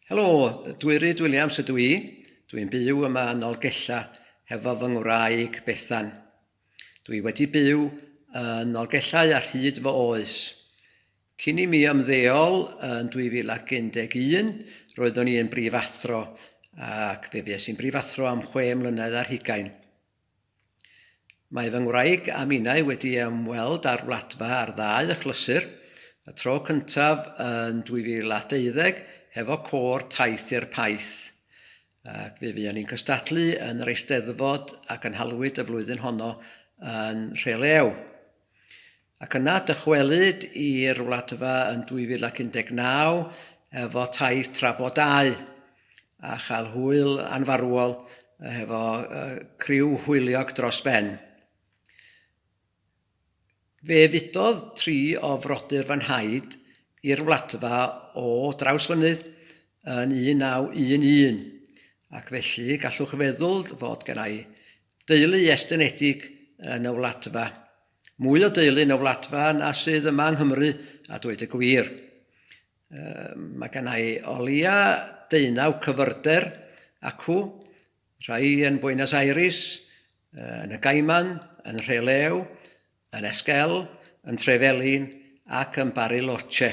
Helo, dwi Rhyd Williams ydw i. Dwi'n byw yma yn Nolgella hefo fy ngwraig Bethan. Dwi wedi byw yn Nolgellau ar hyd fy oes. Cyn i mi ymddeol yn 2011, roeddwn i yn brifathro ac fe fues i'n brifathro am chwe mlynedd ar hugain. Mae fy ngwraig a minnau wedi ymweld â'r Wladfa ar ddau achlysur, y tro cyntaf yn 2012 hefo Côr Taith i'r Paith, ac fe fuon ni'n cystadlu yn yr Eisteddfod a gynhalwyd y flwyddyn honno yn Nhrelew. Ac yna dychwelyd i'r Wladfa yn 2019 efo taith tra bo dau, a chael hwyl anfarwol hefo criw hwyliog dros ben. Fe fudodd tri o frodyr fy nhaid i'r Wladfa o Drawsfynydd yn 1911, ac felly gallwch feddwl fod gennai Deulu estynedig yn y Wladfa. Mwy o deulu yn y Wladfa na sydd yma yng Nghymru, a dweud y gwir. Mae gen i o leia deunaw cyfyrder acw, rhai yn Buenos Aires, yn y Gaiman, yn Rhelew, yn Esquel, yn Trevelin ac yn Bariloche.